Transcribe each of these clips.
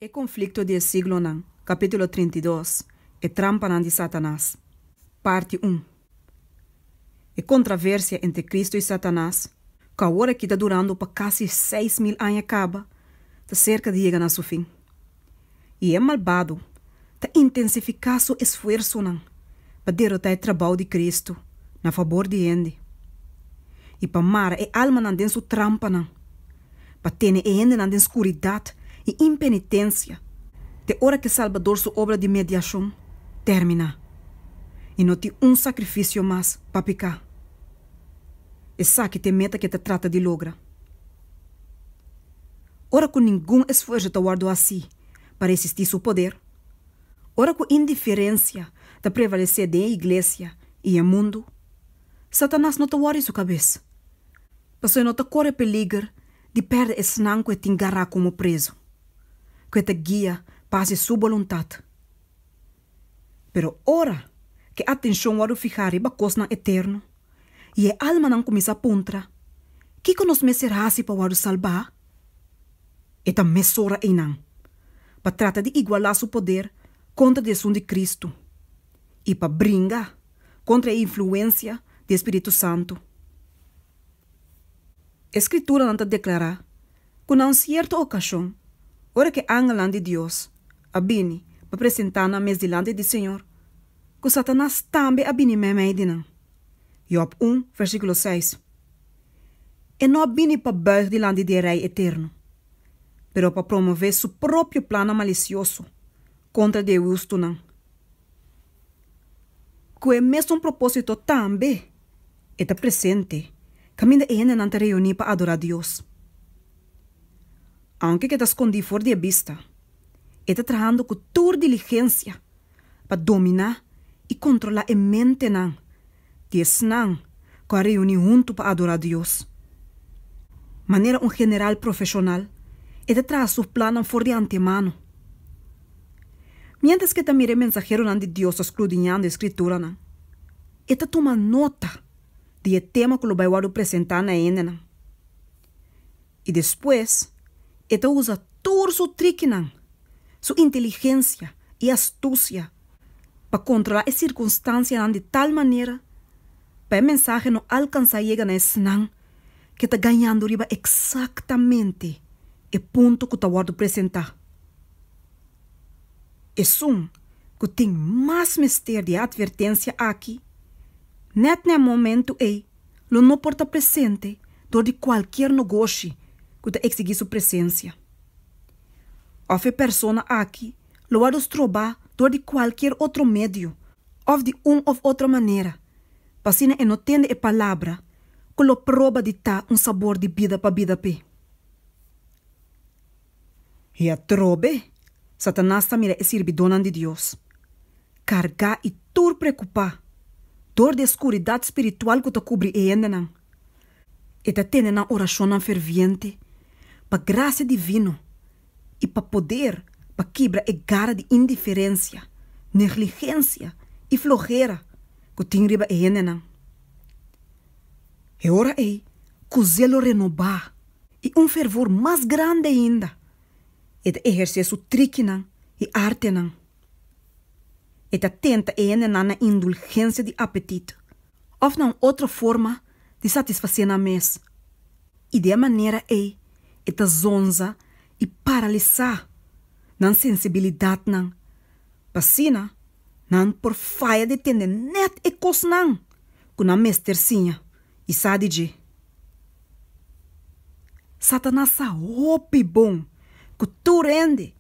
E konflikto di e siglonan, kapítulo trinta i dos, E trampanan di Satanas, parti un. E kontraversia entre Kristu i Satanas, ku awor aki ta durando pa kasi seis mil aña kaba, ta serka di yega na su fin. I e malbado, ta intensifiká su esfuersonan pa derotá e trabou di Kristu na fabor di hende i pa mara e almanan den su trampanan, pa tene e hendenan den skuridat i impenitensia te ora ku e Salbador su obra di mediashon terminá i no tin un sakrifisio mas pa piká. Esaki ta e meta ku e ta trata di logra. Ora ku ningun esfuerso ta wòrdu hasí, pa resisti su poder. Ora ku indiferensia ta prevalesé den e iglesia i e mundu, Satanas no ta wòri su kabes, pasobra e no ta kore peliger di pèrdè esnan ku e tin gará komo prezu, ku e ta guia pa hasi su boluntat Pero ora ku e atenshon wòrdu fihá riba kosnan eterno i e almanan kuminsá puntra, Kiko nos mester hasi pa wòrdu salbá? e ta mesora einan pa trata di igualá su poder kontra di esun di Kristu i pa bringa kontra e influensia di e spiritu santu. E Skrituranan ta deklará ku na un sierto okashon, ora ku e angelnan di Dios a bini pa presentá nan mes dilanti di Señor, ku Satanas tambe a bini meimei di nan. Jòb un, versíkulo seis. E no a bini pa bùig dilanti di e Rei eterno, pero pa promové su propio plannan malisioso kontra di e hustunan. Ku e mesun propósito tambe e ta presente kaminda e hendenan ta reuní pa adorá Dios. Aunke ke ta skondí for di e bista, e ta trahando ku tur diligensia pa dominá i kontrolá e mentenan. di esnan ku a reuní huntu pa adorá Dios. Manera un general profeshonal, e ta traha su plannan for di antemano. Miéntras ku e ta mira e mensaheronan di Dios ta skrudiñando e Skrituranan, e ta tuma nota di e tema ku lo bai wòrdu presentá na hendenan. i despues e ta usa tur su trikinan, su inteligensia i astusia pa kontrolá e sirkunstansianan di tal manera pa e mensahe no alkansá yega na esnan ke ta gañando riba eksaktamente e punto ku ta wòrdu presentá. Esun ku tin mas mester di e atvertensia aki nèt na e momentu ei lo no por ta presente dor di kualkier nogoshi ku ta eksigí su presensia. Òf e persona aki lo wòrdu strobá dor di kualkier otro medio òf di un òf otro manera pa asina e no tende e palabra ku lo proba di ta un sabor di bida pa bida p'e. I atrobe, Satanas ta mira e sirbidónan di Dios kargá i tur preokupá dor di e skuridat spiritual ku ta kubri e hendenan. E ta tende nan orashonnan ferviente pa grasia divino i pa poder pa kibra e gara di indiferensia, negligensia i flojera ku tin riba e hendenan. E ora ei, kusé lo renobá? i un fervor mas grandi ainda e ta ehersé su trikinan i artenan. E ta tenta e hendenan na indulgensia di apetit òf na un otro forma di satisfasé nan mes, i di e manera ei e ta zonza i paralisá nan sensibilidatnan, pa asina nan por faya di tende nèt e kosnan ku nan mester siña. i sa di dje. Satanas sa hopi bon ku tur hende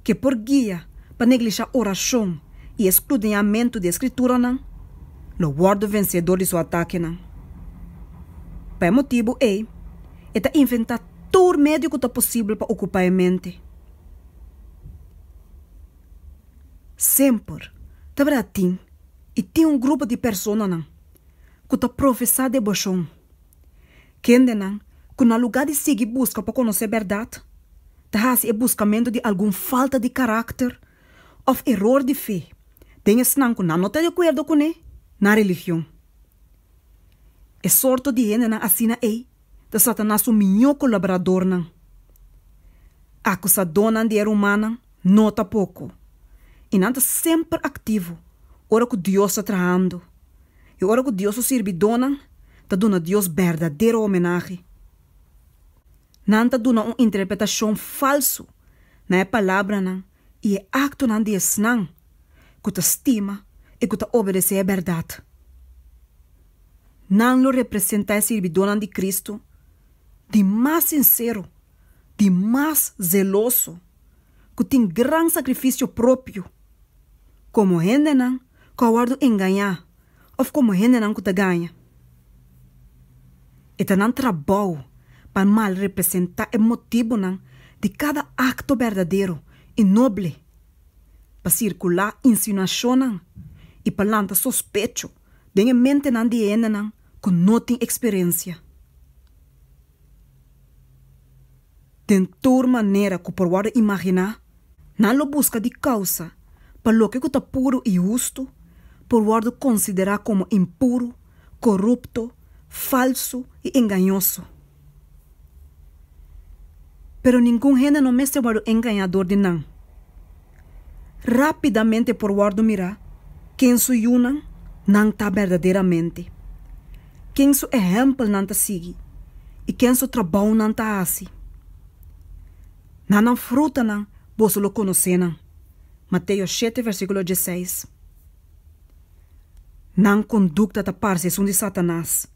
ke por guia pa neglishá orashon i e skrudiñamentu di e Skrituranan lo wòrdu vensedor di su atakenan. Pa e motibu ei e ta inventá tur medio ku ta posibel pa okupá e mente. Semper ta bira tin i tin un grupo di personanan ku ta profesá debashon? Kendenan ku na lugá di sigui buska pa konosé bèrdat, ta hasi e buskamentu di algun falta di karakter òf eror di fe den esnan ku nan no ta di akuerdo kuné nan religion. E sorto di hendenan asina ei ta Satanas su miñó kolaboradornan. Akusadónan di e rumannan no ta poko, i nan ta semper aktivo ora ku Dios ta trahando. I ora ku Dios su sirbidónan ta duna Dios berdadero homenahe, nan ta duna un interpretashon falsu na e palabranan i e aktonan di esnan ku ta stima i ku ta obedesé e bèrdat. Nan lo representá e sirbidónan di Kristu di mas sinsero, di mas zeloso, ku tin gran sakrifisio propio. Komo hendenan ku a wòrdu engañá òf komo hendenan ku ta gaña. E ta nan trabou pa malrepresentá e motibunan di kada akto berdadero i noble, pa sirkulá insinuashonnan i pa lanta sospecho den e mentenan di e hendenan ku no tin eksperensia. Den tur manera ku por wòrdu imaginá, Nan lo buska di kousa pa loke ku ta puru i hustu por wòrdu konsiderá komo impuru, korupto, falsu i engañoso. Pero ningun hende no mester wòrdu engañá dor di nan. Rápidamente por wòrdu mirá ken su yunan nan ta berdaderamente, ken su ehèmpel nan ta sigui i ken su trabou nan ta hasi. Na nan frutanan boso lo konosé nan. Mateo shete versíkulo dieseis. Nan kondukta ta parse esun di Satanas,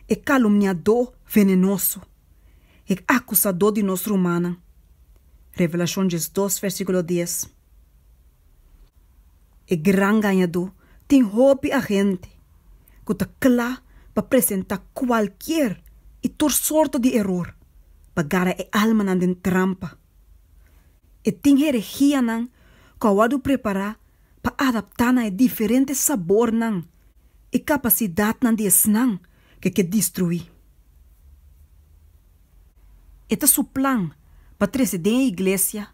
e kalumniadó venenoso, e akusadó di nos rumannan. Revelashon diesdos versíkulo dies. E gran gañadó tin hopi agente ku ta kla pa presentá kualkier i tur sorto di eror pa gara e almanan den trampa. E tin heregianan ku a wòrdu prepará pa adaptá na e diferente sabornan i kapasidatnan di esnan ku e ke destruí. E ta su plan pa trese den e iglesia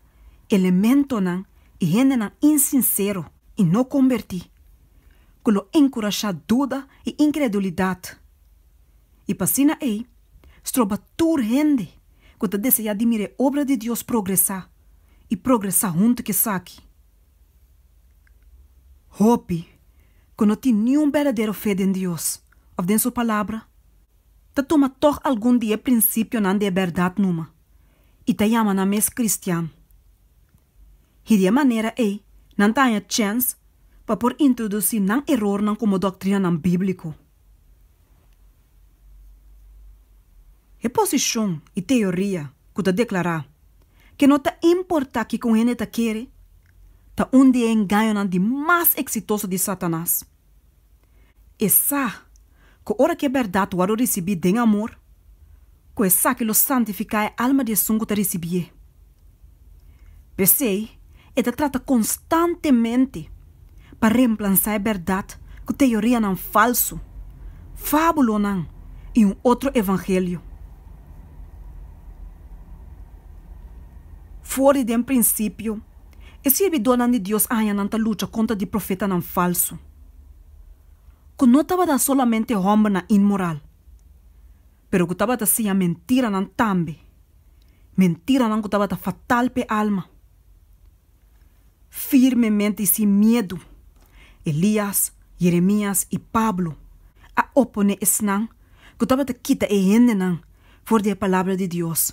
elementonan i hendenan insinsero i no kombertí, ku lo enkurashá duda i inkredulidat, i pa asina ei stroba tur hende ku ta deseá di mira e obra di Dios progresá i progresá huntu ku esaki. Hopi ku no tin niun berdadero fe den Dios òf den su Palabra ta tuma tòg algun di e prinsipionan di e bèrdat numa. i ta yama nan mes kristian. Hidia e manera ei nan ta haña chèns pa por introdusí nan erornan komo doktrinanan bíbliko. E posishon i teoria ku ta deklará ke no ta importá kiko un hende ta kere, ta un di e engañonan di mas eksitoso di Satanas. E sa ku ora ku e bèrdat wòrdu risibí den amor, ku esaki lo santifiká e alma di esun ku ta risibié. P'esei, e ta trata konstantemente pa remplansa e bèrdat ku teorianan falsu, fábulonan i un otro evangelio. For di den prinsipio E sirbidonan di Dios añanan ta lucha kontra di profetanan falsu, ku no tabata solamente hòmbernan inmoral, pero ku tabata siña mentiranan tambe, mentiranan ku tabata fatal p'e alma. Firmemente i sin miedu, Elías, Yeremías i Pablo a oponé esnan ku tabata kita e hendenan for di e palabra di Dios.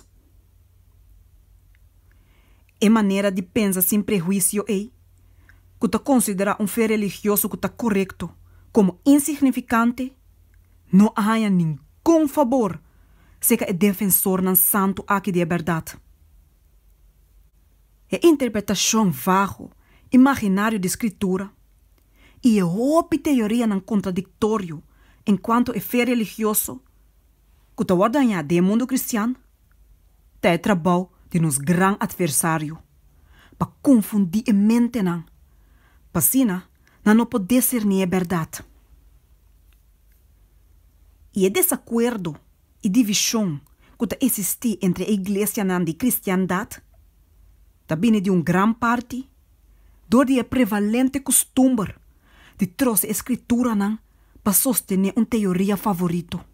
E manera di pensa sin prehuisio ei, ku ta konsiderá un fe religioso ku ta korekto komo insignifikante, no a haña ningun fabor serka e defensornan santu aki di e bèrdat. E interpretashon vago i maginario di Skritura i e hopi teorianan kontradiktorio enkuanto e fe religioso ku ta wòrdu hañá den e mundu kristian, Ta e trabou di nos gran atversario pa konfundí e mentenan, pa asina nan no por deserní e bèrdat. I e desakuerdo i divishon ku ta esistí entre e iglesianan di kristiandat ta bini di un gran parti dor di e prevalente kustumber di trose e skrituranan pa sostené un teoria favorito.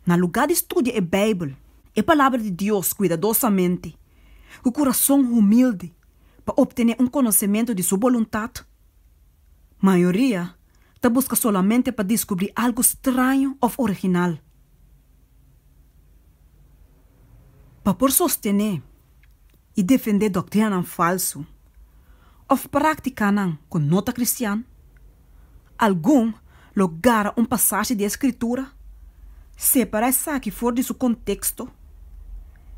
Na lugá di studia e Beibel, e Palabra di Dios, kuidadosamente, ku kurason humildi pa optené un konosementu di Su boluntat, mayoria ta buska solamente pa diskubrí algu straño òf original. Pa por sostené. i defendé doktrinanan falsu òf práktikanan ku no ta kristian. Algun lo gara un pasashi di e Skritura, separá esaki for di su konteksto,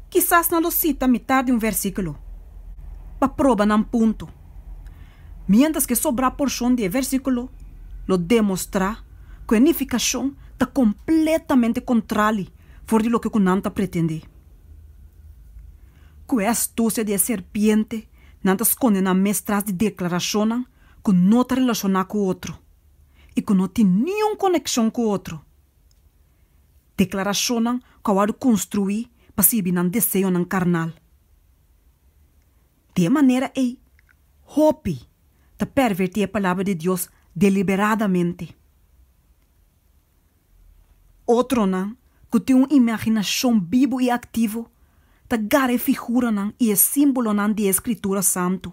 kisas nan lo sita mitar di un vèrsikulo pa proba nan punto, miéntras ku e sobrá porshon di e vèrsikulo lo demostrá ku e nifikashon ta kompletamente kontrali for di loke ku nan ta pretendé. Ku e astusia di e serpiente, nan ta skonde nan mes tras di deklarashonnan ku no ta relashoná ku otro i ku no tin niun konekshon ku otro, deklarashonnan ku a wòrdu konstruí pa sirbi nan deseonan karnal. Di e manera ei, hopi ta pèrvertí e Palabra di Dios deliberadamente. Otronan ku tin un imaginashon bibu i aktivo ta gara e figuranan i e símbolonan di e Skritura Santu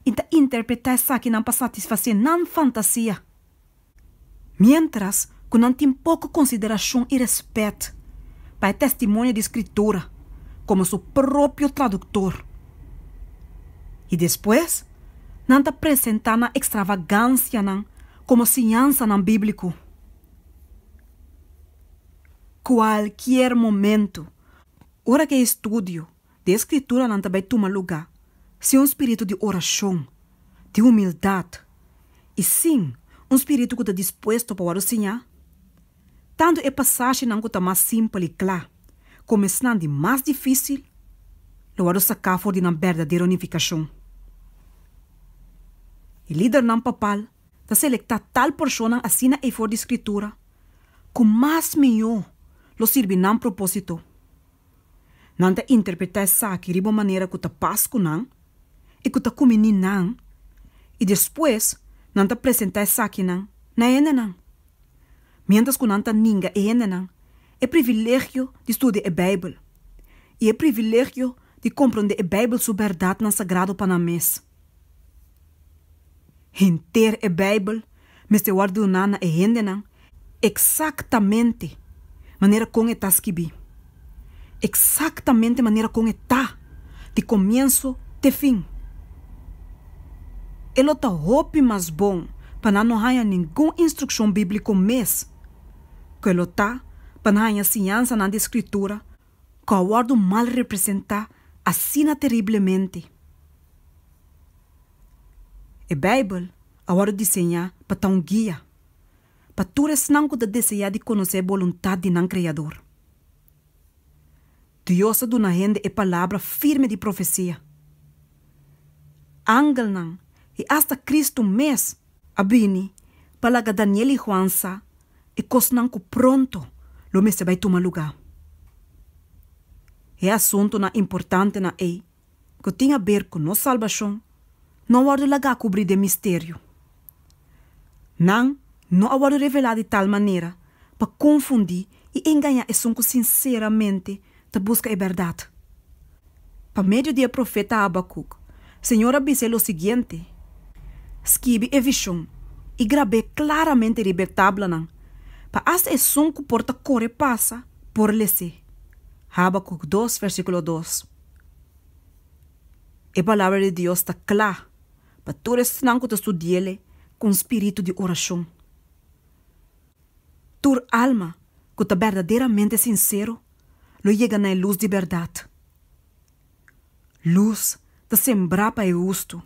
i ta interpretá esakinan pa satisfasé nan fantasia, miéntras ku nan tin poko konsiderashon i rèspèt pa e testimonio di Skritura komo su propio traduktor. I despues nan ta presentá nan ekstravagansianan Komo siñansanan bíbliku kualkier momentu ora ku e estudio di e Skrituranan ta bai tuma lugá sin un spiritu di orashon, di humildat i sin un spiritu ku ta dispuesto pa wòrdu siñá. tantu e pasashinan ku ta mas simpel i kla komo esnan di mas difisil lo wòrdu saká for di nan berdadero nifikashon. E lidernan papal ta selektá tal porshonnan asina ei for di Skritura ku mas mihó lo sirbi nan propósito. Nan ta interpretá esaki riba un manera ku ta pas ku nan i ku ta kuminí nan, i despues nan ta presentá esakinan na hendenan. Miéntras ku nan ta ninga e hendenan e privilegio di studia e Beibel i e privilegio di komprondé e Beibel su bèrdatnan sagrado pa nan mes, henter e Beibel mester wòrdu duná na e hendenan eksaktamente manera kon e ta skibí, eksaktamente manera kon e ta di komienso te fin. E lo ta hopi mas bon pa nan no haña ningun instrukshon bíbliko mes ku e lo ta pa nan haña siñansanan di Skritura ku a wòrdu mal representá asina teriblemente. E Beibel a wòrdu diseñá pa ta un guia pa tur esnan ku ta deseá di konosé e boluntat di nan Kreador. Dios a duna hende e palabra firme di profesia. Angelnan i asta Kristu mes a bini pa laga Daniel i Juan sa e kosnan ku pronto lo mester bai tuma lugá. E asuntunan importantenan ei ku tin a ber ku nos salbashon no a wòrdu lagá kubrí den misterio. Nan no a wòrdu revelá di tal manera pa konfundí i engañá esun ku sinseramente ta buska e bèrdat. Pa medio di e profeta Habakuk, Señor a bisa e lo siguiente, Skibi e vishon i grab'é klaramente riba e tablanan, pa asta esun ku por ta kore pasa, por les'é. Habakuk dos, versíkulo dos. E palabra di Dios ta kla pa tur esnan ku ta studi'é kon spiritu di orashon. Tur alma ku ta berdaderamente sinsero lo yega na e lus di bèrdat. Lus ta sembrá pa e hustu,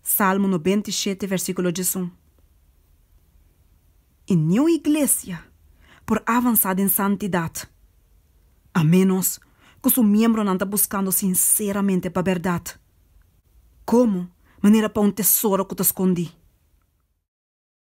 Salmo nobenta i shete, vèrsikulo diesun. i niu iglesia por avansá den santidat a ménos ku su miembronan ta buskando sinseramente pa bèrdat komo manera pa un tesoro ku ta skondí.